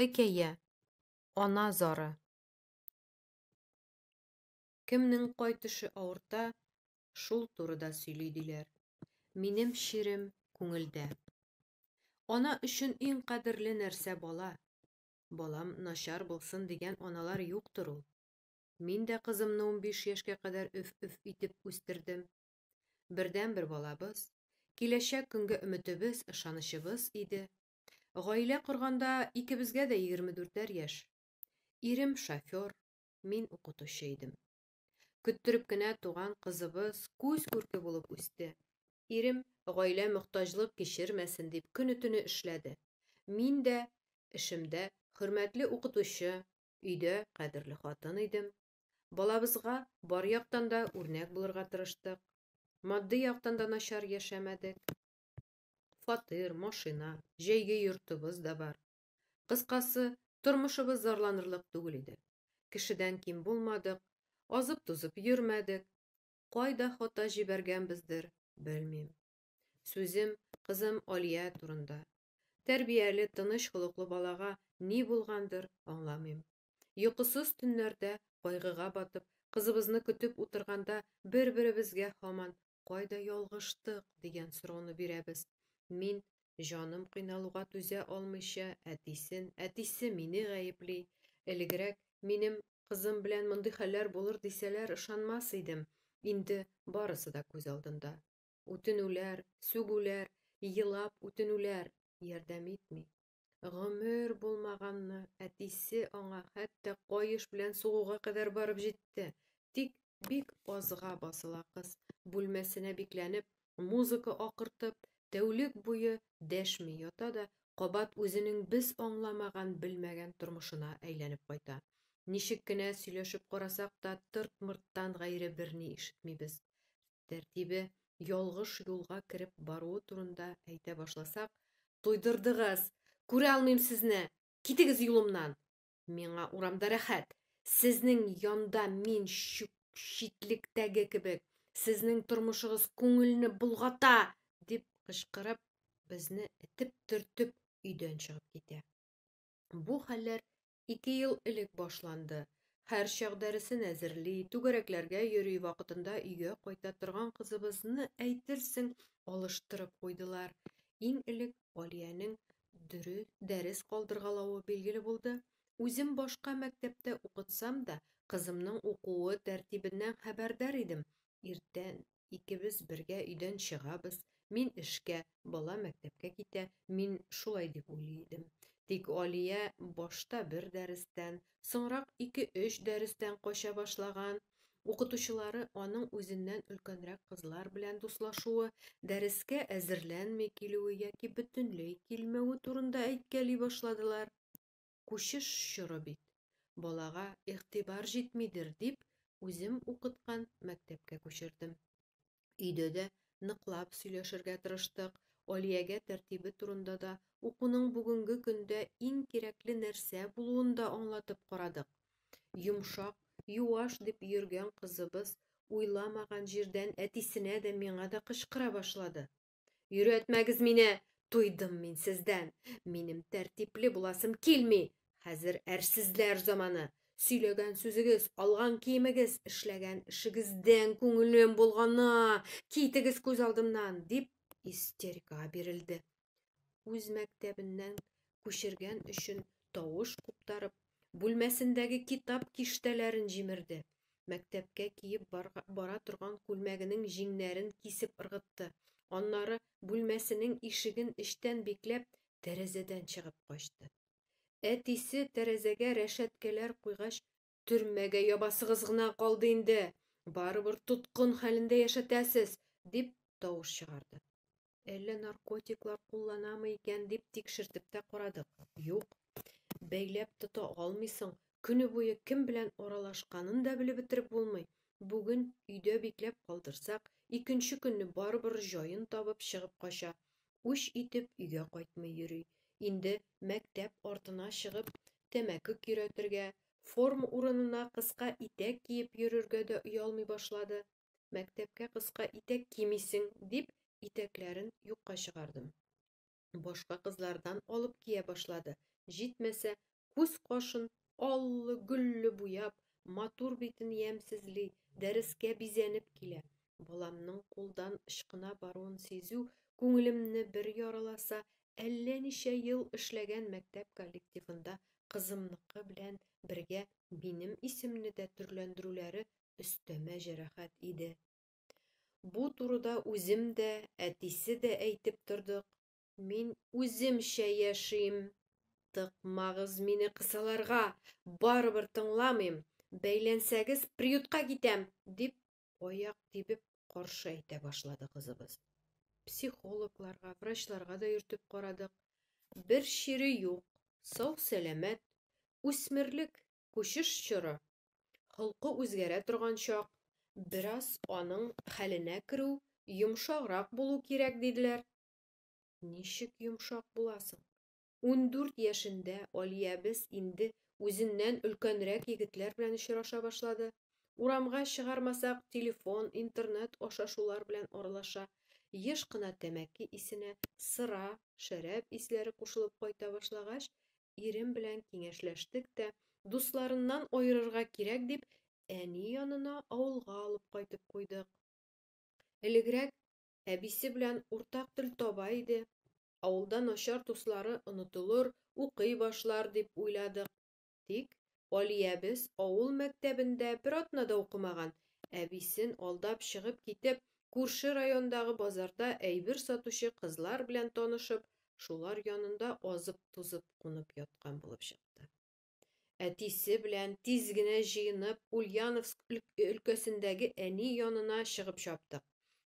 Хикәя. Ана зары. Кемнең кай төше авырта, шул турыда сөйли диләр. Минем чирем күңелдә. Ана өчен иң кадерле нәрсә бала. Балам начар булсын дигән аналар юктыр ул. Мин дә кызымны унбиш яшькә кадәр өф-өф итеп үстердем. Бердәнбер балабыз, киләчәк көнгә өметебез, ышанычыбыз иде. Гаилә корганда икебезгә дә егерме дүртәр яшь. Ирем шофер, мин укытучы идем. Көттереп кенә туган кызыбыз күз күрке булып үсте. Ирем, гаилә мохтаҗлык кичермәсен дип, көне-төне эшләде. Мин дә эшемдә хөрмәтле укытучы, өйдә кадерле хатын идем. Балабызга бар яктан да үрнәк булырга тырыштык. Матди яктан да начар яшәмәдек. Фатир, машина, җәйге йортыбыз да бар. Кыскасы, тормышыбыз зарланырлык түгел иде. Кешедән ким булмадык, азып-тузып йөрмәдек. Кайда хата җибәргәнбездер, белмим. Сүзем кызым Алия турында. Тәрбияле, тыныч холыклы балага ни булгандыр, аңламыйм. Йокысыз төннәрдә кайгыга батып, кызыбызны көтеп утырганда бер-беребезгә һаман Кайда ялгыштык? дигән сорауны бирәбез. Мин, җаным кыйналуга түзә алмыйча, әтисен, әтисе мине гаепли. Элегрәк минем кызым белән мондый хәлләр булыр дисәләр, ышанмас идем, инде барысы да күз алдында. Үтенүләр, сүгүләр, елап үтенүләр ярдәм итми. Гомер булмаганны әтисе аңа хәтта каеш белән сугуга кадәр барып җитте. Тик бик азга басыла кыз. Бүлмәсенә бикләнеп, музыка акыртып, тәүлек буе дәшми ята да, кабат үзенең без аңламаган, белмәгән тормышына әйләнеп кайта. Ничек кенә сөйләшеп карасак та, тырт-мырттан гайре берни ишетмибез. Тәртибе ялгыш юлга кереп баруы турында әйтә башласак, туйдырдыгыз! Күрә алмыйм сезне! Китегез юлымнан! Миңа урамда рәхәт! Сезнең янда мин чүп читлектәге кебек, сезнең тормышыгыз күңелне болгата! дип кычкырып, безне этеп-төртеп өйдән чыгып китә. Бу хәлләр Ике ел элек башланды. Һәр чак дәресен әзерли, түгәрәкләргә йөри, вакытында өйгә кайта торган кызыбызны әйтерсең алыштырып куйдылар. Иң элек Алиянең дөрес дәрес калдыргалавы билгеле булды. Үзем башка мәктәптә укытсам да, кызымның укуы тәртибеннән хәбәрдар идем. Иртән Икебез бергә өйдән чыгабыз, мин эшкә, бала мәктәпкә китә, мин шулай дип уйлый идем. Тик Алия башта бер дәрестән, соңрак ике-өч дәрестән кача башлаган. Укытучылары аның үзеннән өлкәнрәк кызлар белән дуслашуы, дәрескә әзерләнми килүе яки бөтенләй килмәве турында әйткәли башладылар. Күчеш чоры бит. Балага игътибар җитмидер дип, үзем укыткан мәктәпкә күчердем. Өйдә дә ныклап сөйләшергә тырыштык, Алиягә тәртибе турында да, укуның бүгенге көндә иң кирәкле нәрсә булуын да аңлатып карадык. Йомшак, юаш дип йөргән кызыбыз уйламаган җирдән әтисенә дә, миңа да кычкыра башлады. Өйрәтмәгез мине, туйдым мин сездән. Минем тәртипле буласым килми. Хәзер әрсезләр заманы. Сөйләгән сүзегез, алган киемегез, эшләгән эшегездән күңелем булгана. Китегез күз алдымнан, дип истерикага бирелде. Үз мәктәбеннән күчергән өчен тавыш куптарып, Бүлмәсендәге китап киштәләрен җимерде. Мәктәпкә киеп бара торган күлмәгенең җиңнәрен кисеп ыргытты. Аннары, бүлмәсенең ишеген эчтән бикләп, тәрәзәдән чыгып качты. Әтисе тәрәзәгә рәшәткәләр куйгач, Төрмәгә ябасыгыз гына калды инде! Барыбер тоткын хәлендә яшәтәсез! дип тавыш чыгарды. Әллә наркотиклар кулланамы икән дип тикшертеп тә карадык. Юк. Бәйләп тота алмыйсың. Көне буе кем белән аралашканын да белеп бетереп булмый. Бүген өйдә бикләп калдырсак, икенче көнне барыбер җаен табып чыгып кача. Үч итеп өйгә кайтмый йөри. Инде мәктәп артына чыгып, тәмәке көйрәтергә, форма урынына кыска итәк киеп йөрергә дә оялмый башлады. мәктәпкә кыска итәк кимисең, дип, итәкләрен юкка чыгардым. Башка кызлардан алып кия башлады. Җитмәсә, күз кашын аллы, гөлле буяп, матур битен ямьсезли, дәрескә бизәнеп килә. Баламның кулдан ычкына баруын сизү күңелемне бер яраласа, әллә ничә ел эшләгән мәктәп коллективында кызымныкы белән бергә минем исемне дә төрләндерүләре өстәмә җәрәхәт иде. Бу турыда үзем дә, әтисе дә әйтеп тордык. Мин үземчә яшим. Тыкмагыз мине кысаларга, барыбер тыңламыйм. Бәйләнсәгез, приютка китәм, дип аяк тибеп каршы әйтә башлады кызыбыз. Психологларга, врачларга да йөртеп карадык. Бер чире юк, сау-сәламәт, үсмерлек Күчеш чоры, холкы үзгәрә торган чак, бераз аның хәленә керү, йомшаграк булу кирәк, диделәр. Ничек йомшак буласың? Ундүрт яшендә Алиябез инде үзеннән өлкәнрәк егетләр белән очраша башлады. Урамга чыгармасак, телефон, интернет аша шулар белән аралаша. Еш кына тәмәке исенә сыра, шәраб исләре кушылып кайта башлагач, Ирем белән киңәшләштек тә, дусларыннан аерырга кирәк дип, әни янына авылга алып кайтып куйдык. Элегрәк әбисе белән уртак тел таба иде. Авылда начар дуслары онытылыр, укый башлар дип уйладык. Тик Алиябез авыл мәктәбендә бер атна да укымаган, әбисен алдап чыгып китеп, күрше райондагы базарда әйбер сатучы кызлар белән танышып, шулар янында азып-тузып кунып яткан булып чыкты. Әтисе белән тиз генә җыенып, Ульяновск өлкәсендәге әни янына чыгып чаптык.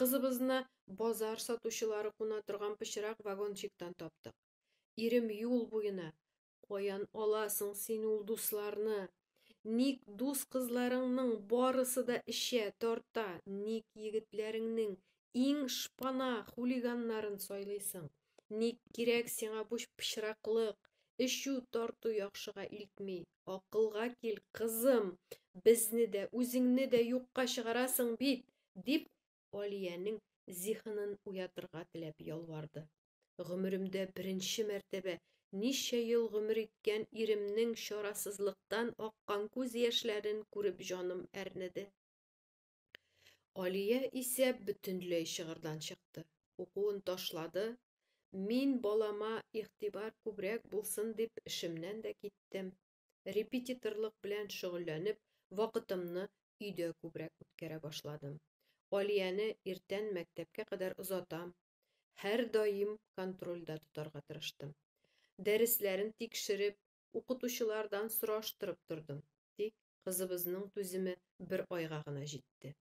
Кызыбызны базар сатучылары куна торган пычрак вагончиктан таптык. Ирем юл буена, Каян аласың син ул дусларны? Ник дус кызларыңның барысы да эчә, тарта? Ник егетләреңнең иң шпана хулиганнарын сайлыйсың? Ник кирәк сиңа бу пычраклык? Эчү, тарту яхшыга илтми. Акылга кил, кызым, безне дә, үзеңне дә юкка чыгарасың бит, дип Алиянең зиһенен уятырга теләп ялварды. Гомеремдә беренче мәртәбә ничә ел гомер иткән иремнең чарасызлыктан аккан күз яшьләрен күреп җаным әрнеде. Алия исә бөтенләй чыгырдан чыкты. Укуын ташлады. Мин балама игътибар күбрәк булсын дип эшемнән дә киттем. Репетиторлык белән шөгыльләнеп, вакытымны өйдә күбрәк үткәрә башладым. Алияне иртән мәктәпкә кадәр озатам, һәрдаим контрольдә тотарга тырыштым. Дәресләрен тикшереп, укытучылардан сораштырып тордым. Тик кызыбызның түземе бер айга гына җитте.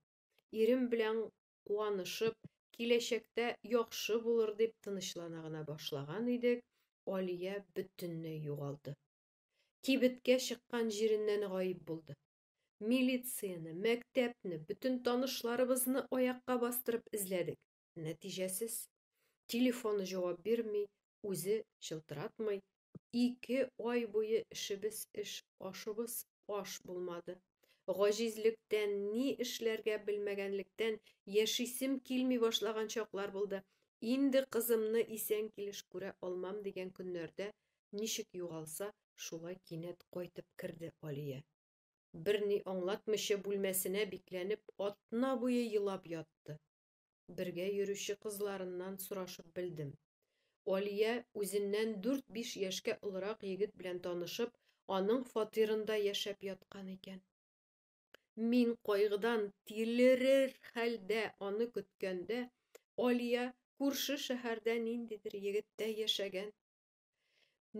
Ирем белән куанышып, киләчәктә яхшы булыр дип тынычлана гына башлаган идек, Алия бөтенләй югалды. Кибеткә чыккан җиреннән гаип булды. Милицияне, мәктәпне, бөтен танышларыбызны аякка бастырып эзләдек. Нәтиҗәсез. Телефоны җавап бирми, үзе чылтыратмый. Ике ай буе эшебез эш, ашыбыз аш булмады. Гаҗизлектән, ни эшләргә белмәгәнлектән яшисем килми башлаган чаклар булды. Инде кызымны исән килеш күрә алмам дигән көннәрдә Ничек югалса, шулай кинәт кайтып керде Алия. Берни аңлатмыйча бүлмәсенә бикләнеп, атна буе елап ятты. Бергә йөрүче кызларыннан сорашып белдем. Алия үзеннән дүрт-биш яшькә олырак егет белән танышып, аның фатирында яшәп яткан икән. Мин кайгыдан тилерер хәлдә аны көткәндә, Алия күрше шәһәрдә ниндидер егеттә яшәгән,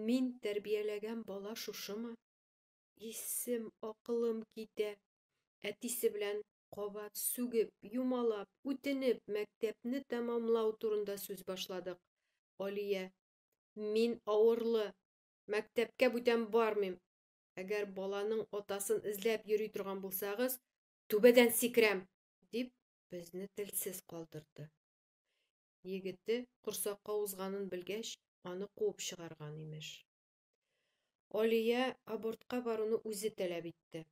Мин тәрбияләгән бала шушымы? Исем, акылым китә. Әтисе белән кабат сүгеп, юмалап, үтенеп, мәктәпне тәмамлау турында сүз башладык. Алия, мин авырлы, мәктәпкә бүтән бармыйм. Әгәр баланың атасын эзләп йөри торган булсагыз, түбәдән сикерәм, дип, безне телсез калдырды. егете корсакка узганын белгәч, аны куып чыгарган, имеш. Алия абортка баруны үзе таләп итте.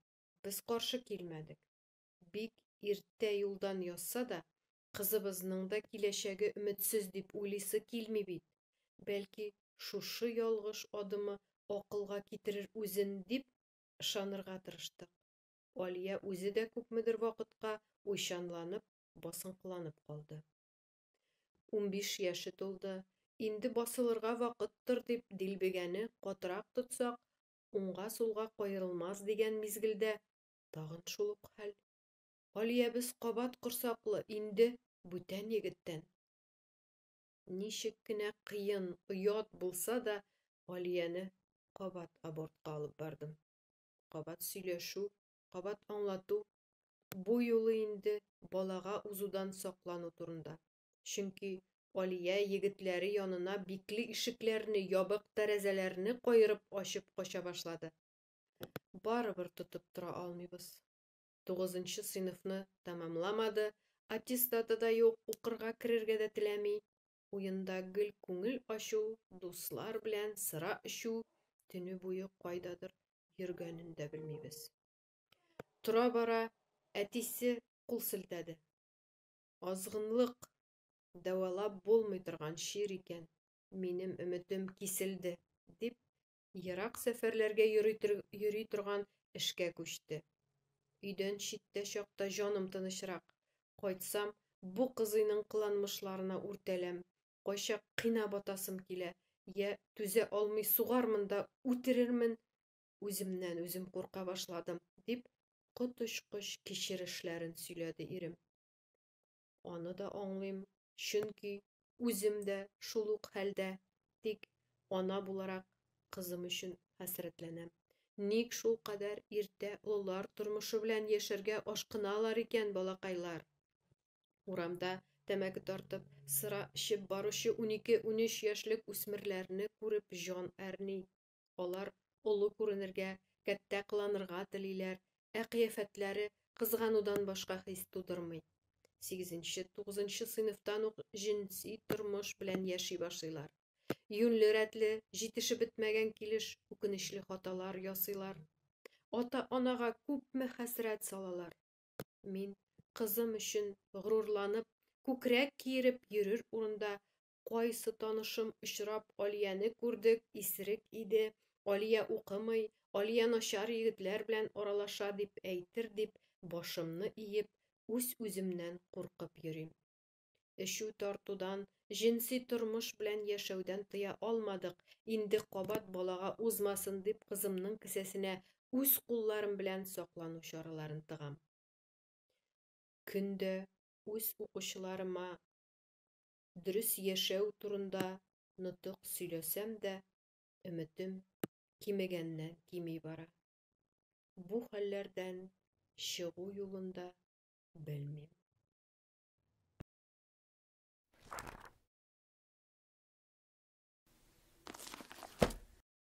Без каршы килмәдек. Бик иртә юлдан язса да, кызыбызның да киләчәге өметсез дип уйлыйсы килми бит. Бәлки, шушы ялгыш адымы акылга китерер үзен дип ышанырга тырыштык. Алия үзе дә күпмедер вакытка уйчанланып, басынкыланып калды. Унбиш яше тулды, инде басылырга вакыттыр дип дилбегәне катырак тотсак, уңга-сулга каерылмас дигән мизгелдә тагын шул ук хәл. Алиябез кабат корсаклы, инде бүтән егеттән. Ничек кенә кыен, оят булса да, Алияне кабат абортка алып бардым. Кабат сөйләшү, Кабат аңлату, бу юлы инде балага узудан саклану турында. Чөнки Алия егетләре янына бикле ишекләрне, ябык тәрәзәләрне каерып ачып кача башлады. Барыбер тотып тора алмыйбыз. Тугызынчы сыйныфны тәмамламады, аттестаты да юк, укырга керергә дә теләми. Уенда гел күңел ачу, дуслар белән сыра эчү, төне буе кайдадыр йөргәнен дә белмибез. Тора-бара әтисе кул селтәде. Азгынлык дәвалап булмый торган чир икән, минем өметем киселде, дип, Ерак сәфәрләргә йөри торган эшкә күчте. Өйдән читтә чакта җаным тынычрак. Кайтсам, бу кызыйның кыланмышларына үртәләм. Кайчак кына батасым килә. Я түзә алмый сугармын да үтерермен. Үземнән үзем курка башладым, дип коточкыч кичерешләрен сөйләде ирем. аны да аңлыйм, чөнки үзем дә шул ук хәлдә, тик ана буларак кызым өчен хәсрәтләнәм. Ник шул кадәр иртә олылар тормышы белән яшәргә ашкыналар икән балакайлар? Урамда тәмәке тартып, сыра эчеп баручы унике-унөч яшьлек үсмерләрне күреп җан әрни. Алар олы күренергә, кәттә кыланырга телиләр, ә кыяфәтләре кызганудан башка хис тудырмый. Сигезенче, тугызынчы сыйныфтан ук җенси тормыш белән яши башлыйлар. Юньле рәтле, җитешеп бетмәгән килеш үкенечле хаталар ясыйлар. Ата-анага күпме хәсрәт салалар. Мин кызым өчен горурланып, күкрәк киереп йөрер урында Кайсы танышым очрап, Алияне күрдек, исерек иде, Алия укымый, Алия начар егетләр белән аралаша дип әйтер дип, башымны иеп, үз-үземнән куркып йөрим. Эчү тартудан, җенси тормыш белән яшәүдән тыя алмадык, инде кабат балага узмасын дип кызымның кесәсенә үз кулларым белән саклану чараларын тыгам. Көндә үз укучыларыма дөрес яшәү турында нотык сөйләсәм дә, өметем кимегәннән кими бара. Бу хәлләрдән чыгу юлын да белмим.